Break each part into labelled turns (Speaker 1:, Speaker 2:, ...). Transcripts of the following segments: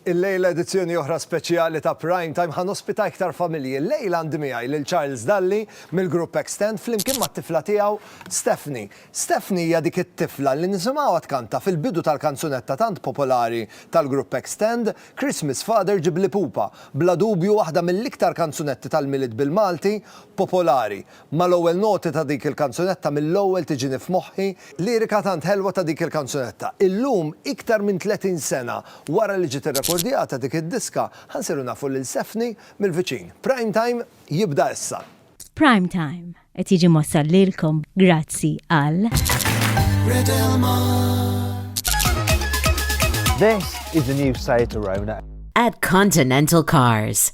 Speaker 1: Illejla edizzjoni oħra speċjali ta' Prime Time ħa nospita iktar familji. Illejla għandi miegħi lil Charles Dalli mill-grupp Extend flimkien mat-tifla tiegħu Stephanie. Stephanie hija dik it-tifla li nisimgħuha tkanta fil-bidu tal-kanzunetta tant popolari tal-grupp Extend, Christmas Father Ġibli Pupa, bla dubju waħda mill-iktar kanzunetti tal-Milied bil-Malti popolari. Mal-ewwel noti ta' dik il-kanzunetta mill-ewwel tiġini f'moħħi lirika tant ħelwa ta' dik il-kanzunetta. Illum, iktar minn 30 sena wara li ġiet irrekordjata dik id-diska, ħa nsiru nafu lil Sefni mill-viċin. Prime Time jibda issa. Prime Time
Speaker 2: qed jiġi mwassal lilkom grazzi għal.
Speaker 3: This is the new Seat Arona. At Continental
Speaker 4: Cars.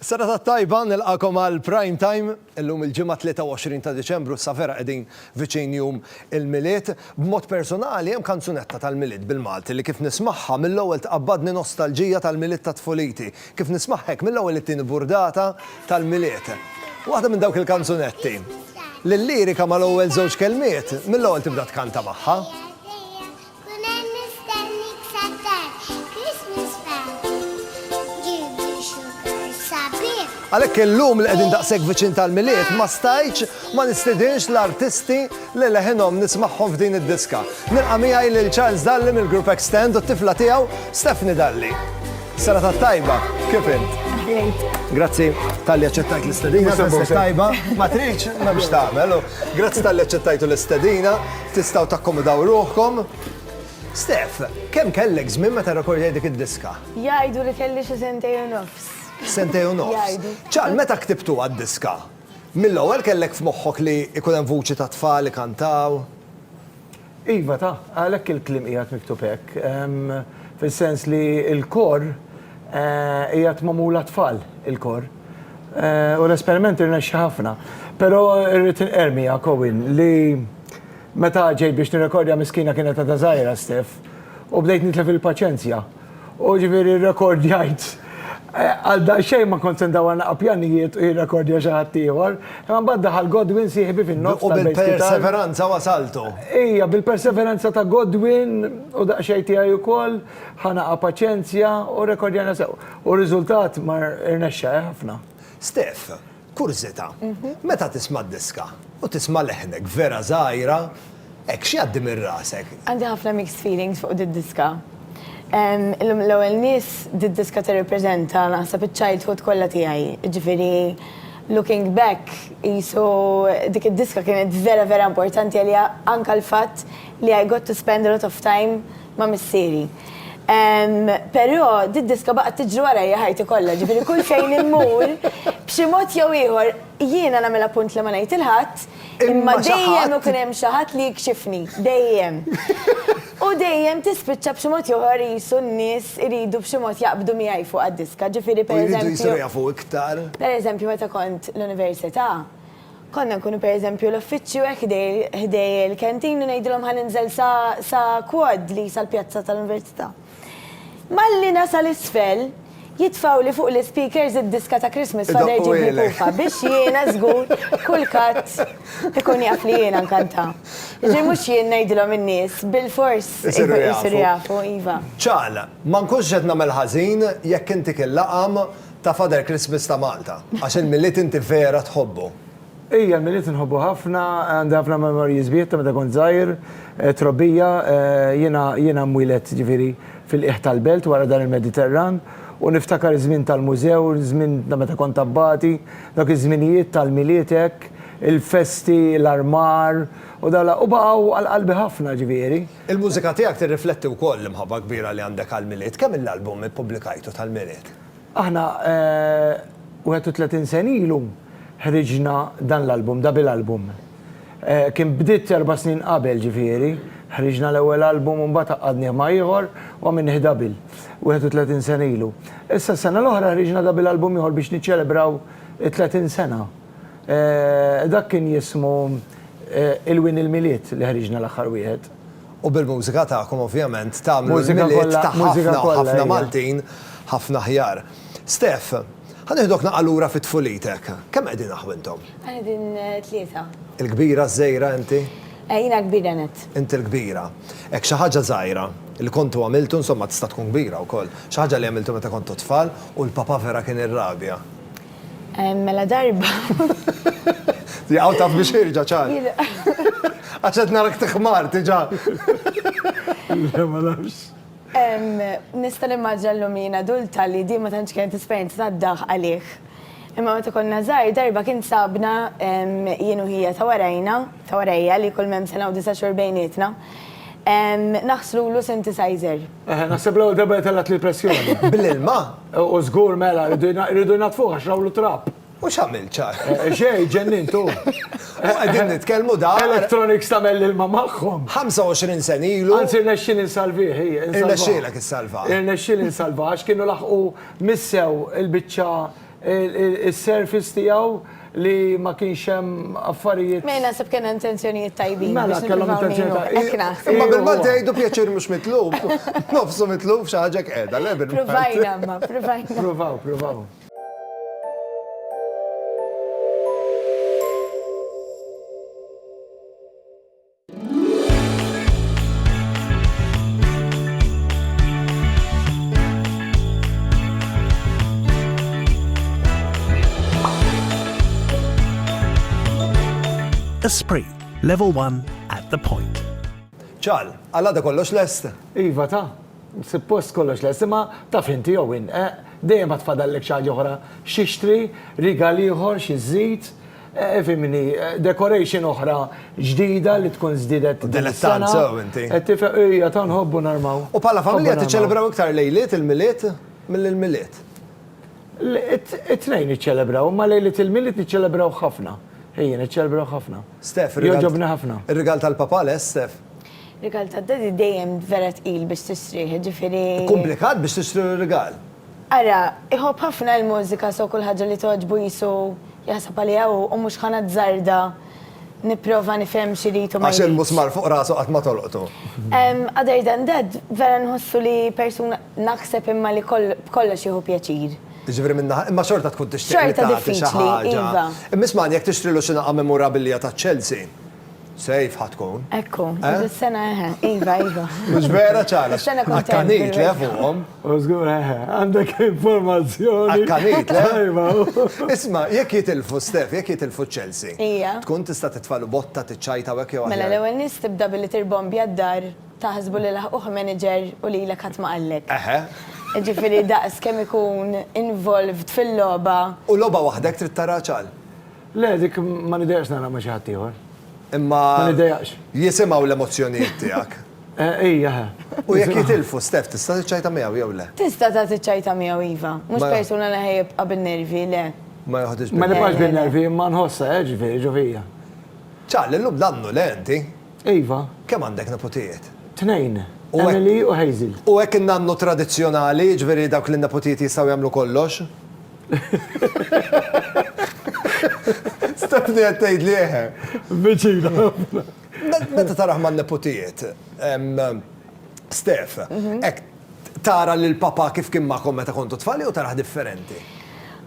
Speaker 1: Serata tajba, nilqagħkom għal Prime Time. Illum il-Ġimgħa 23 ta' Diċembru issa vera qegħdin viċin jum il-Milied. B'mod personali hemm kanzunetta tal-Milied bil-Malti li kif nismagħha mill-ewwel tqabbadni nostalġija tal-Milied ta' tfuliti. Kif nismagħha hekk mill-ewwel it-tieni burdata tal-Milied. Waħda minn dawk il-kanzunetti li l-lirika mal-ewwel żewġ kelmiet mill-ewwel tibda tkanta magħha. Kun hemm mistennik sat-tard, Christmas party, ġibli sugar sabiħ. Għalhekk illum li qegħdin daqshekk viċin tal-Milied ma stajtx ma nistidinx l-artisti li leħinhom nismagħhom f'din id-diska. Nilqa' miegħi lil Charles Dalli mill-grupp Extend u t-tifla tiegħu Stephanie Dalli. Serata t-tajba, kif int? Aħlejk. Grazzi talli aċċettajt l-istedina, festa t-tajba, ma tridx, m'hemmx tagħmel. Grazzi talli aċċettajtu l-istedina. Tistgħu takkomodaw ruħkom. Steph, kemm kellek żmien meta rrekordjajt dik id-diska? Jgħidu li kelli
Speaker 5: xi sentejn u nofs. Sentejn u nofs.
Speaker 1: Jgħidu. Ċar, meta ktibtuha d-diska, mill-ewwel kellek f'moħħok li jkun hemm vuċi ta' tfal ikantaw?
Speaker 3: Iva, ta. Għalhekk il-kliem qiegħed miktub hekk. Fis-sens li l-kor Qiegħed magħmul għat-tfal il-kor. U l-esperiment irnexxa ħafna. Però rrid inqerr miegħek Owen li meta ġejt biex nirrekordja miskina kienet għadha żgħira Steph u bdejt nitlef il-paċenzja. U ġifieri rrekordjajt għal daqsxejn ma kont se ndawwar naqra pjanijiet u jirrekordja xi ħadd ieħor. Imma mbagħad daħal Godwin sieħbi fin-nofs. U bil-perseveranza
Speaker 1: wasaltu. Ija,
Speaker 3: bil-perseveranza ta' Godwin u daqsxejn tiegħi wkoll. Ħanaqa paċenzja u rekordjana sew. U r-riżultat mar irnexxa, eh, ħafna. Stef,
Speaker 1: kurżità, meta tisma' diska u tisma' leħnek vera żgħira, hekk x'jgħaddi minn rasek? Għandi ħafna mixed
Speaker 5: feelings fuq did-diska. L-ewwel nies did-diska tirripreżenta naħseb iċ-childhood kollha tiegħi. Jiġifieri looking back qisu dik id-diska kienet vera vera importanti għalija anke l-fatt li I got to spend a lot of time ma' missieri. Però did-diska baqgħet tiġri warajja ħajti kollha, ġifieri kull fejn immur, b'xi mod jew ieħor, jiena nagħmilha punt li ma ngħid 'il ħadd, imma dejjem ikun hemm xi ħadd li jikxifni, dejjem. U dejjem tispiċċa b'xi mod jew ieħor qisu n-nies iridu b'xi mod jaqbdu miegħi fuq għad-diska, ġifieri pereżempju. U jridu jsiru jafu iktar. Pereżempju meta kont l-università, Konna nkunu pereżempju l-uffiċċju hekk ħdej il-canteen u ngħidilhom ħa ninżel sa sa quad li sal-pjazza tal-Università. Malli nasal isfel, jitfgħuli fuq l-ispeakers id-diska ta' Christmas Father Ġibli Pupa biex jiena żgur kulkadd ikun jaf li jiena nkanta. Jiġifieri mhux jien ngħidilhom in-nies bilfors isiru jafu, iva. Ċagħal, ma
Speaker 1: nkunx qed nagħmel ħażin jekk intik il-laqam, Ta' Father Christmas ta' Malta. Għax il-Milied inti vera tħobbu. Ija, l-Milied
Speaker 3: inħobbu ħafna, għandi ħafna memories bih ta' meta kont żgħir, trobbija, jiena jiena mwieled ġifieri fil-qiegħ tal-belt wara dan il-Mediterran u niftakar iż-żmien tal-mużew, żmien ta' meta kont abbati, dawk iż-żminijiet tal-Milied hekk, il-festi, l-armar u dawn l-, u baqgħu għal qalbi ħafna ġifieri. Il-mużika tiegħek
Speaker 1: tirrifletti wkoll l-imħabba kbira li għandek għall-Milied. Kemm-il album ippubblikajtu tal-Milied? Aħna 31
Speaker 3: sena ilu ħriġna dan l-album, double album. Kien bdiet erba' snin qabel, ġifieri, ħriġna l-ewwel album u mbagħad għaqqadnieh ma' ieħor u għamilnieh double, 31 sena ilu. Issa s-sena l-oħra ħriġna double album ieħor biex niċċelebraw it-30 sena. Dak kien jismu Il-Wien il-Milied li ħriġna l-aħħar wieħed. U bil-mużika
Speaker 1: tagħkom ovvjament tagħmlu l-Milied ta' ħafna, ħafna
Speaker 3: Maltin
Speaker 1: ħafna aħjar. Steph, ħa nieħdok naqgħa lura fi tfulitek. Kemm qegħdin aħ intom? Qegħdin
Speaker 5: tlieta. Il-kbira,
Speaker 1: ż-żgħira inti? Jiena l-kbira
Speaker 5: nett. Inti l-kbira.
Speaker 1: Hekk xi ħaġa żgħira li kontu għamiltu, insomma tista' tkun kbira wkoll, xi ħaġa li għamiltu meta kontu tfal u l-papa vera kien irrabja?
Speaker 5: Mela darba.
Speaker 1: Jaqaw taf biex irġa ċar. Għaxet narak tiħmar tiġa.
Speaker 3: Le ma nafx.
Speaker 5: Nista nimmaġna l-lumina dulta li di ma tantx kienet esperjenza ta' daħ għalih. Imma meta konna żgħar darba kien sabna jien u ħija ta' warajna, ta' warajja li kull mem sena u disa' xhur bejnietna. Naħslu lu synthesizer. Eħe, naħseb l-ewwel darba
Speaker 3: li tellat li pressjoni. Bl-ilma?
Speaker 1: U żgur
Speaker 3: mela, rridu jnatfuh għax rawlu trab. U x'għamil ċar?
Speaker 1: Xej, ġennin
Speaker 3: tu.
Speaker 1: Qegħdin nitkellmu da. Electronics tagħmel l-ilma
Speaker 3: magħhom. 25 sen
Speaker 1: ilu. Anzi, rnexxin insalvih.
Speaker 3: Irnexxilek
Speaker 1: issalva. Irnexxil insalva
Speaker 3: għax kienu laħqu missew il-biċċa is-surface tiegħu li ma kienx hemm affarijiet. Mela naħseb kien hemm
Speaker 5: intenzjonijiet tajbin. Mela kellhom intenzjonijiet
Speaker 3: tajbin. Hekk naħseb. Imma bil-Malti jgħidu pjaċir
Speaker 1: mhux mitlub. Nofsu mitlub xi ħaġa qiegħda, le bil-Malti. Pruvajna imma, pruvajna.
Speaker 5: Pruvaw, pruvaw.
Speaker 6: Esprit, level 1 at the point. ċal,
Speaker 1: għalla da kollox lest? Iva ta,
Speaker 3: suppost kollox lest, imma ta' finti jow in, eh, dejjem għat fadallek xaġa oħra, xixtri, rigal ieħor, xizzit, Fimni, decoration oħra ġdida li tkun żdiedet. Dilettant sew inti.
Speaker 1: Qed tifhem, ejja tant
Speaker 3: nħobbu narmaw. U bħala familja tiċċelebraw
Speaker 1: iktar lejliet il-Milied milli l-Milied?
Speaker 3: It-tnejn niċċelebraw, imma lejliet il-Milied niċċelebrawh ħafna. Ejja, niċċelebraw ħafna. Stef, rigal. Jogħġobni
Speaker 1: ħafna.
Speaker 3: Ir-rigal tal-papa lest,
Speaker 1: Stef? Rigal tad-daddy
Speaker 5: dejjem vera tqil biex tistrieħ, jiġifieri. Komplikat biex tixtri
Speaker 1: rigal. Ara,
Speaker 5: iħobb ħafna il-mużika so kull ħaġa li togħġbu qisu jaħseb għaliha hu u mhux ħa nazzarda nipprova nifhem x'irid u ma jridx. Għax il-musmar fuq rasu
Speaker 1: qatt ma tolqtu. Other
Speaker 5: than that, vera nħossu li persuna naħseb imma li b'kollox jieħu pjaċir. Jiġifieri minn naħa, imma
Speaker 1: xorta tkun tixtieq li tagħti xi ħaġa. Xorta diffiċli,
Speaker 5: iva. Imma ismagħni, jekk tixtrilu
Speaker 1: xi nagħqa memorabilia taċ-Chelsea, Safe ħa tkun. Ekku, eh? is-sena
Speaker 5: eħe, eh, iva, iva. Mux vera
Speaker 1: ċala. Sena kontent. Akkanit
Speaker 5: le fuqom.
Speaker 1: Użgur eħe, eh,
Speaker 3: għandek informazzjoni. Akkanit le.
Speaker 1: Iva.
Speaker 3: Isma, jek
Speaker 1: jitilfu Stef, jek jitilfu Chelsea. Ija. Tkun tista
Speaker 5: titfalu
Speaker 1: botta t-ċajta għek jew Mela l-ewel nis tibda
Speaker 5: billi tirbombi għaddar taħsbu li laħuħ manager u li l-kat maqallek. Eħe.
Speaker 1: Ġifiri daqs
Speaker 5: kem ikun involved fil-loba. U loba wahdek
Speaker 1: trid tara ċal. Le, dik
Speaker 3: ma nidejaqx nara ma' xi ħadd ieħor. Imma. Ma
Speaker 1: nidejaqx.
Speaker 3: Jisimgħu l-emozzjonijiet
Speaker 1: tiegħek. Ejja, ħa.
Speaker 3: U jekk
Speaker 1: jitilfu Steph, tista' tiċċajta miegħu jew le? Tista' ta' tiċċajta
Speaker 5: miegħu iva. Mhux persuna li ħa jibqa' bin-nervi, le. Ma joħodhiex bin-nervi. Ma
Speaker 1: nibqax bin-nervi imma
Speaker 3: nħossha, eh, ġifieri, ġo fija. Ċarli,
Speaker 1: llum nannu, le inti? Iva. Kemm
Speaker 3: għandek neputijiet?
Speaker 1: Tnejn.
Speaker 3: Emily u
Speaker 1: Hazel. U
Speaker 3: hekk in-nannu
Speaker 1: tradizzjonali, jiġifieri dawk li n-neputijiet jistgħu jagħmlu kollox? Stefni qed tgħid li eħe. Viċina
Speaker 3: ħafna.
Speaker 1: Meta taraħ man-neputijiet, Stef, hekk tara lil papa kif kien magħkom meta kontu tfal jew taraħ differenti?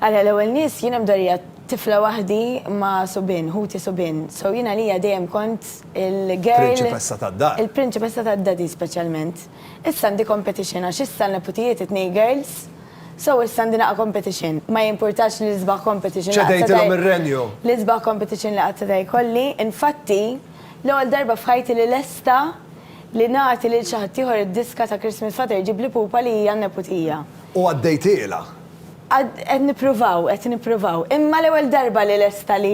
Speaker 1: Għala l-ewwel
Speaker 5: nies jien hemm darija tifla waħdi ma' subien, ħuti subien. So jien għalija dejjem kont il-girl. Prinċipessa tad-dar.
Speaker 1: Il-prinċipessa tad-daddy
Speaker 5: speċjalment. Issa għandi competition għax issa l-neputijiet it-tnejn girls. So issa għandi naqa' competition. Ma jimpurtax li l-isbaħ competition li qatt seta' Ċedejtilhom ir-renju.
Speaker 1: L-isbaħ competition
Speaker 5: li qatt seta' jkolli. Infatti, l-ewwel darba f'ħajti li lesta li nagħti lil xi ħaddieħor id-diska ta' Christmas Father Ġibli Pupa li hija n-neputija. U għaddejtielha. Qed nippruvaw, qed nippruvaw. Imma l-ewwel darba li lesta li.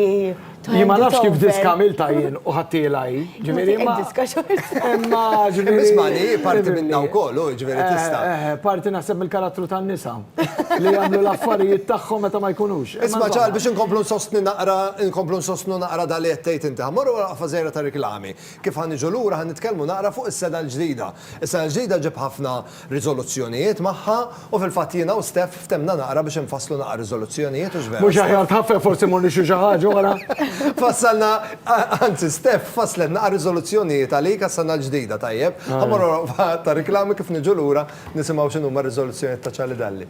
Speaker 3: Jien ma nafx kif diska għamilta jien u ħattiela hi. Ġifieri ma. Diska xorta.
Speaker 5: Imma ġifieri.
Speaker 3: Ismani, parti
Speaker 1: minna wkoll, u ġifieri eh, tista'. Eh, eh, parti naħseb
Speaker 3: mill-karattru tan-nisa li jagħmlu l-affarijiet tagħhom meta ma jkunux. Isma' ċar biex inkomplu
Speaker 1: nsostni naqra, inkomplu nsostnu naqra dali qed tgħid inti. Ħammorru wara qaffa żejra ta' reklami. Kif ħan niġu lura ħan nitkellmu naqra fuq is-seda l-ġdida. Is-seda l-ġdida ġib ħafna riżoluzzjonijiet magħha u fil-fatt jiena u Steph ftemna naqra biex infasslu naqra riżoluzzjonijiet hux vera? Mhux aħjar tħaffef forsi
Speaker 3: mmur nixtri xi ħaġa wara? Fassalna,
Speaker 1: anzi Steph fasslet naqra riżoluzzjonijiet għalik għas-sena l-ġdida, tajjeb, ħa mmorru wara waqfa ta' riklami kif niġu lura nisimgħu x'inhuma r-riżoluzzjonijiet ta' Charlie Dalli.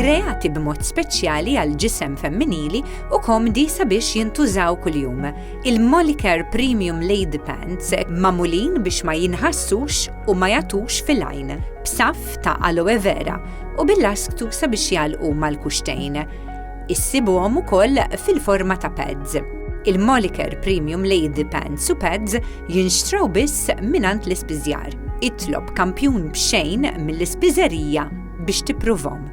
Speaker 7: kreati b'mod speċjali għal ġisem femminili u komdi sabiex jintużaw kuljum. Il-Molicare Premium Lady Pants mamulin biex ma jinħassux u ma jatux fil-għajn, b'saf ta' aloe vera u bil-lasktu sabiex jalqu mal-kuxtejn. Issibuhom ukoll fil-forma ta' pads. Il-Moliker Premium Lady Pants u Pads jinxtraw biss minant l-ispiżjar. Itlob kampjun b'xejn mill-ispiżerija biex tippruvhom.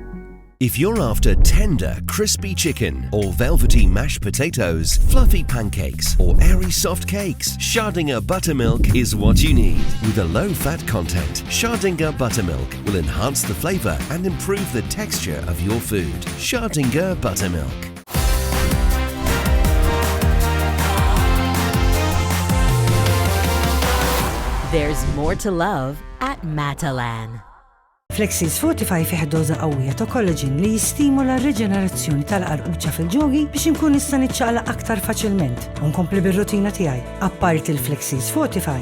Speaker 7: If you're
Speaker 8: after tender, crispy chicken or velvety mashed potatoes, fluffy pancakes or airy soft cakes, Schardinger Buttermilk is what you need. With a low fat content, Schardinger Buttermilk will enhance the flavor and improve the texture of your food. Schardinger Buttermilk. There's
Speaker 9: more to love at Matalan. Flexin
Speaker 10: Fortify fih doza qawwija ta' kollaġin li jistimula r-reġenerazzjoni tal-qarquċa fil-ġogi biex inkun nista' niċċaqla aktar faċilment u nkompli bir-rutina tiegħi. Apparti l-Flexin Fortify,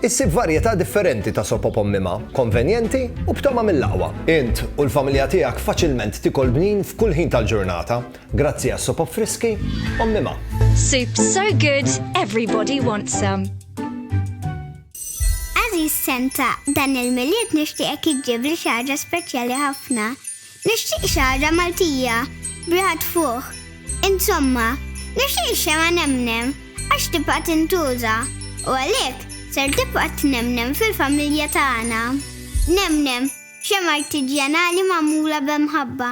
Speaker 1: Issib varjetà differenti ta' sopop ommima, konvenjenti u b'togħma mill-aqwa. Int u l-familja tiegħek faċilment tikol bnin f'kull ħin tal-ġurnata, grazzi għas-sopop friski ommima. Soup so
Speaker 11: good, everybody wants some.
Speaker 12: Għażiż Santa, dan il-Milied nixtieqek iġġibli xi ħaġa speċjali ħafna. Nixtieq xagħra Maltija b'riħa tfuħ. Insomma, nixtieq ix-xemgħa nemnem għax tibqa' tintuża u għalhekk ser tibqa' tnemnem fil-familja tagħna. Nemnem, xemgħa artiġjanali magħmula b'imħabba.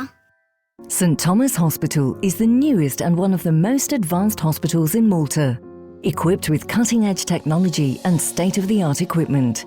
Speaker 12: St
Speaker 4: Thomas Hospital is the newest and one of the most advanced hospitals in Malta, equipped with cutting-edge technology and state-of-the-art equipment.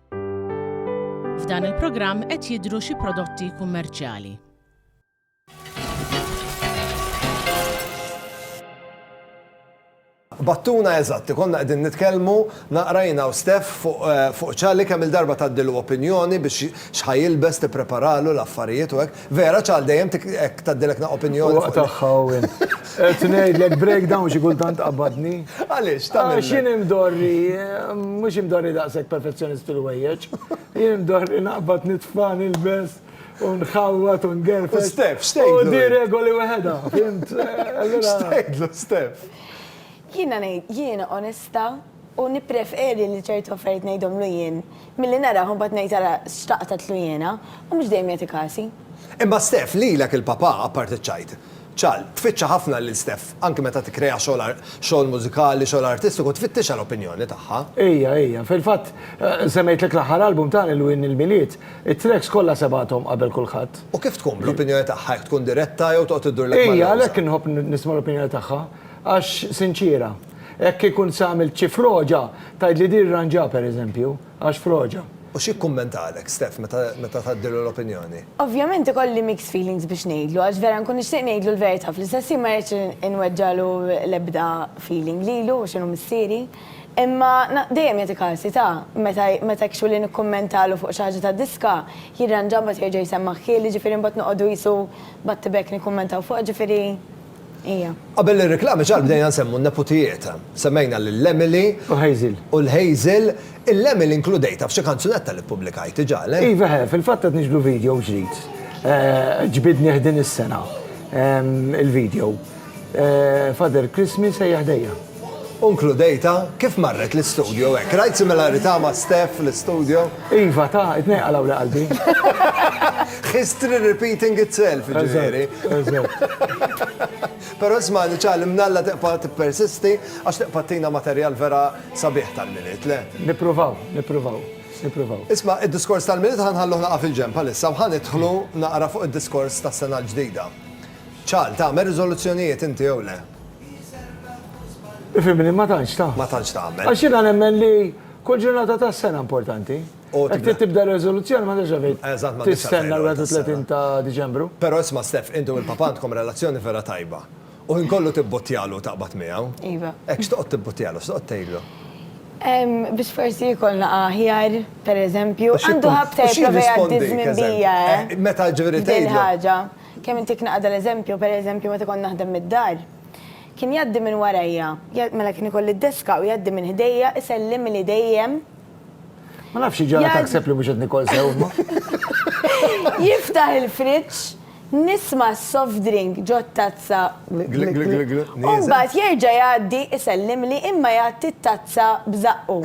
Speaker 13: F'dan il-programm qed jidhru xi prodotti kummerċjali.
Speaker 1: Battuna eżatt, konna qegħdin nitkellmu naqrajna u Stef fuq ċali kemm il-darba tgħaddilu opinjoni biex xħajilbes tippreparalu l-affarijiet u hekk. Vera ċal dejjem tik hekk tgħaddilekna opinjoni. Huwa tagħha u int.
Speaker 3: Qed ngħidlek breakdown xi kultant qabadni. Għaliex tagħmel? Għax
Speaker 1: jien imdorri,
Speaker 3: mhux imdorri daqshekk perfezzjonist fil-wejjeġ. Jien imdorri naqbad nitfa' nilbes u nħawwad u ngerfex. Stef, x'tgħidlu? U di
Speaker 1: regoli weħedha,
Speaker 3: fimt? X'tgħidlu,
Speaker 1: Stef? Jiena ngħid,
Speaker 5: jiena onesta. U nippreferi li ċertu affarijiet ngħidhomlu jien milli narah u mbagħad ngħid ara x'xtaqt għedtlu jiena, u mhux dejjem jagħti kasi. Imma Steph,
Speaker 1: lilek il-papà, apparti ċ-ċajt. Ċal, tfittxa ħafna lil Steph, anki meta tikkrea xogħol xogħol mużikali, xogħol artistiku, tfittixha l-opinjoni tagħha. Ejja, ejja. Fil-fatt,
Speaker 3: semmejtlek l-aħħar album ta' Lil Win il-Milied, it-tracks kollha sebgħathom qabel kulħadd. U kif tkun bl-opinjoni
Speaker 1: tagħha, jekk tkun diretta jew toqgħod iddurlek mal-lewża? Ejja, għalhekk inħobb nisma'
Speaker 3: l-opinjoni tagħha, għax sinċiera. Hekk ikun se għamilt xi froġa, tgħidli di rranġa pereżempju, għax froġa. U xi kkummentalek
Speaker 1: Steph meta tgħaddilu l-opinjoni? Ovvjament ikolli
Speaker 5: mixed feelings biex ngħidlu għax vera nkun nixtieq ngħidlu l-verità, fl-istess ħin ma rridx inweġġagħlu l-ebda feeling lilu għax inhu missieri. Imma dejjem jagħti każi ta' meta hekk xogħli nikkummentalu fuq xi ħaġa ta' diska, jirranġa mbagħad jerġa' jsemmagħ ħieli, ġifieri mbagħad noqogħdu qisu back to back nikkummentaw fuqha, ġifieri. Ija. Qabel ir-riklami
Speaker 1: ġar bdejna nsemmu n-neputijiet. Semmejna lill-Emily. U Hazel. U l-Hazel. Il-Emily nkludejtha f'xi kanzunetta li ppubblikajt, ġa le? Iva he, fil-fatt qed
Speaker 3: niġbdu video ġdid. Ġbidnih din is-sena il-video. Father Christmas ejja ħdejja. U nkludejtha
Speaker 1: kif marret l-istudio hekk. Rajt similarità ma' Steph l-istudio? Iva, ta, it-tnejn
Speaker 3: qalgħuli qalbi.
Speaker 1: History repeating itself, jiġifieri. Però isma' Niċċa, l-imnalla tibqa' tippersisti għax tibqa' ttina materjal vera sabiħ tal-Milied, le? Nippruvaw, nippruvaw, nippruvaw. Isma', id-diskors tal-Milied ħa nħalluh naqa' fil-ġenb għalissa u ħa nidħlu naqra fuq id-diskors tas-sena l-ġdida. Ċal, tagħmel riżoluzzjonijiet inti jew le?
Speaker 3: Ifimni, ma tantx ta'. Ma tantx tagħmel. Għax jiena
Speaker 1: nemmen li
Speaker 3: kull ġurnata ta' sena importanti. Jekk trid tibda riżoluzzjoni ma tibda fejn. Eżatt ma tibda. Tistenna l-31 ta' Diċembru. Però isma' Stef, inti
Speaker 1: u l-papà għandkom relazzjoni vera tajba. U ħin kollu tibbuttjalu u taqbad miegħu. Iva. Hekk x'toqgħod
Speaker 5: tibbuttjalu,
Speaker 1: x'toqgħod tgħidlu?
Speaker 5: Biex forsi jkollna aħjar, pereżempju. Għandu ħabta jipprova jgħaddi ż-żmien bija, eh? Meta ġifieri
Speaker 1: tgħidlu. Din il-ħaġa. Kemm
Speaker 5: intik naqgħa dal-eżempju, pereżempju meta kont naħdem mid-dar, kien jgħaddi minn warajja, mela kien ikolli d-deska u jgħaddi minn ħdejja isellimli dejjem. Ma
Speaker 3: nafx xi ġara taħseb li mhux qed nikol sew imma. Jiftaħ
Speaker 5: il-friġġ, nisma' s-soft drink ġo t-tazza gli gli gli gli gli u mbagħad jerġa' jgħaddi isellimli imma jgħatti t-tazza b'żaqqu.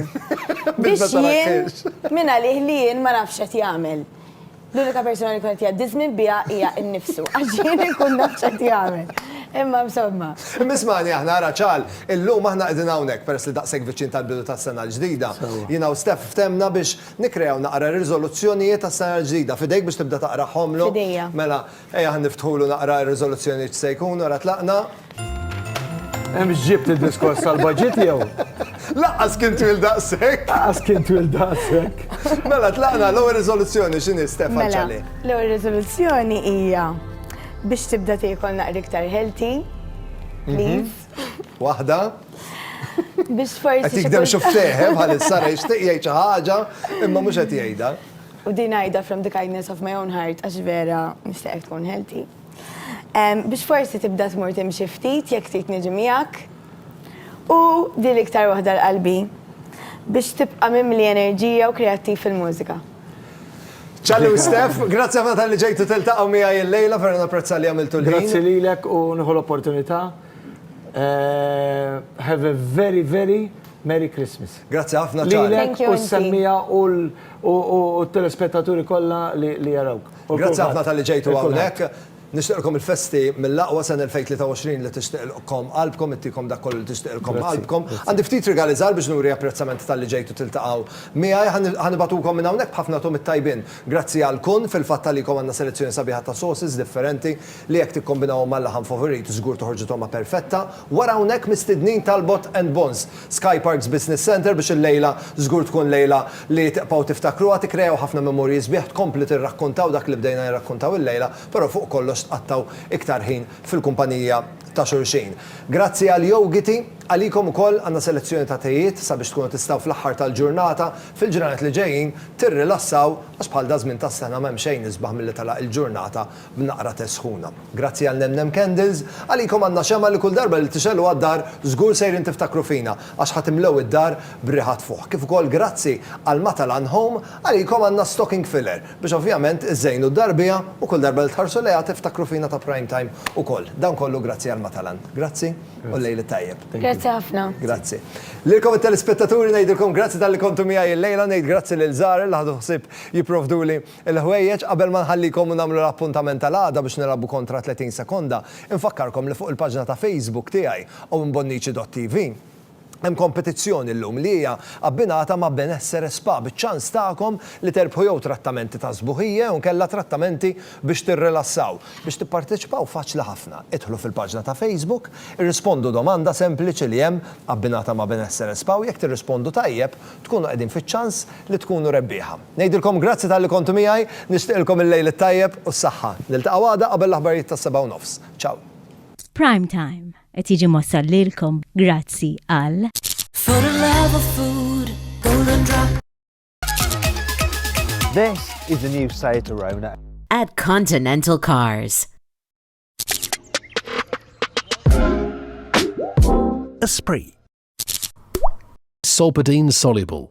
Speaker 5: Biex jien, mingħalih li jien ma nafx x'qed jagħmel. L-unika persuna li kont jgħaddi żmien biha hija nnifsu, għax jien inkun naf x'qed jagħmel. Imma insomma. Imma ismagħni aħna, ara
Speaker 1: Charl, illum aħna qegħdin hawnhekk peress li daqshekk viċin tal-bidu tas-sena l-ġdida. Jiena u Steph ftemna biex nikkreaw naqra riżoluzzjonijiet għas-sena l-ġdida. F'idejk biex tibda taqrahomlu? F'idejja. Mela,
Speaker 5: Ejja ħa
Speaker 1: niftħulu naqra r-riżoluzzjonijiet x'se jkunu ara tlaqna.
Speaker 3: Hemm x'ġibt id-diskors tal-budget jew? Lanqas kien
Speaker 1: twil daqshekk! Lanqas kien twil
Speaker 3: daqshekk! Mela tlaqna
Speaker 1: l-ewwel riżoluzzjoni x'inhi Steph għal Ċarlie? Mela, l-ewwel riżoluzzjoni
Speaker 5: hija biex tibda tiekol naqra iktar healthy, please. Waħda. Biex forsi. Qed jikdem xufftejh, eh,
Speaker 1: bħalissa, jixtieq jgħid xi ħaġa, imma mhux qed jgħidha. U din ngħidha
Speaker 5: from the kindness of my own heart għax vera nixtieqek tkun healthy. Biex forsi tibda tmur timxi ftit jekk trid niġi miegħek. U din l-iktar waħda l-qalbi, biex tibqa' mimli enerġija u kreattiv fil-mużika.
Speaker 1: Charlie u Steph, grazzi ħafna talli ġejtu tiltaqgħu miegħi illejla, vera napprezza li għamiltu l-ħin. Grazzi lilek u
Speaker 3: nieħu l-opportunità. Have a very, very merry Christmas. Grazzi ħafna Charlie. Lilek
Speaker 1: u s-semmiegħa
Speaker 3: u t-telespettaturi kollha li jarawk. Grazzi ħafna talli
Speaker 1: ġejtu hawnhekk. Nixtieqilkom il-festi mill-aqwa sena 2023 li tixtieqilkom qalbkom, ittikom dak kollu li tixtieqilkom qalbkom. Għandi ftit rigali żgħar biex nuri apprezzament talli ġejtu tiltaqgħu miegħi. Ħa nibgħatukom minn hawnhekk b'ħafna togħmiet tajbin. Grazzi għal Kun, fil-fatt għalikom għandna selezzjoni sabiħa ta' sauces differenti li jekk tikkombinawhom mal-laħam favorit żgur toħorġu togħma perfetta. Wara hawnhekk mistidnin tal-Bott and Bonds, Sky Parks Business Centre biex il-lejla żgur tkun lejla li tibqgħu tiftakruha, tikkrejaw ħafna memorji sbieħ, tkomplu tirrakkontaw dak li bdejna nirrakkontaw illejla, però fuq kollox tqattgħu iktar ħin fil-kumpanija ta' xulxin. Grazzi għal Yogiti, għalikom ukoll għandna selezzjoni ta' tejiet sabiex tkunu tistgħu fl-aħħar tal-ġurnata, fil-ġranet li ġejjin, tirrilassaw għax bħal daż-żmien tas-sena m'hemm xejn isbaħ milli telaq il-ġurnata b'naqra te sħuna. Grazzi għal Nem Nem Candles, għalikom għandna xemgħa li kull darba li tixegħluha d-dar żgur sejrin tiftakru fina għax ħa timlew id-dar b'riħa tfuħ. Kif ukoll grazzi għal Matalan Home, għalikom għandna stocking filler biex ovvjament iżżejnu d-dar biha u kull darba li tħarsu lejha tiftakru fina ta' Prime Time ukoll. Dan kollu grazzi għal Matalan. Grazzi u l-lejl it-tajjeb. Grazzi ħafna.
Speaker 5: Grazzi.
Speaker 1: Lilkom it-telespettaturi ngħidilkom grazzi talli kontu miegħi l-lejla, ngħid grazzi lil Zahra li ħadu ħsieb jipprovduli Il-ħwejjeġ, Qabel ma nħallikom u nagħmlu l-appuntament tal-għada biex nilgħabu kontra 30 sekonda, infakkarkom li fuq il-paġna ta' Facebook tiegħi, owenbonnici.tv, hemm kompetizzjoni llum li hija abbinata ma' Benessere Spa biċ-ċans tagħkom li terbħu jew trattamenti ta' sbuħija jew inkella trattamenti biex tirrilassaw. Biex tipparteċipaw faċli ħafna, idħlu fil-paġna ta' Facebook, irrispondu domanda sempliċi li hemm abbinata ma' Benessere Spa u jekk tirrispondu tajjeb, tkunu qegħdin fiċ-ċans li tkunu rebbieħa. Ngħidilkom grazzi talli kontu miegħi, nixtieqilkom il-lejl it-tajjeb u s-saħħa. Niltaqgħu għada qabel l-aħbarijiet tas-sebgħa u nofs. Ciao. Prime
Speaker 2: Time qed jiġi mwassal lilkom grazzi għal. For the
Speaker 14: love of food, Golden Drop.
Speaker 15: This is the new Seat Arona. At Continental
Speaker 16: Cars.
Speaker 6: Esprit.
Speaker 17: Solpadeine soluble.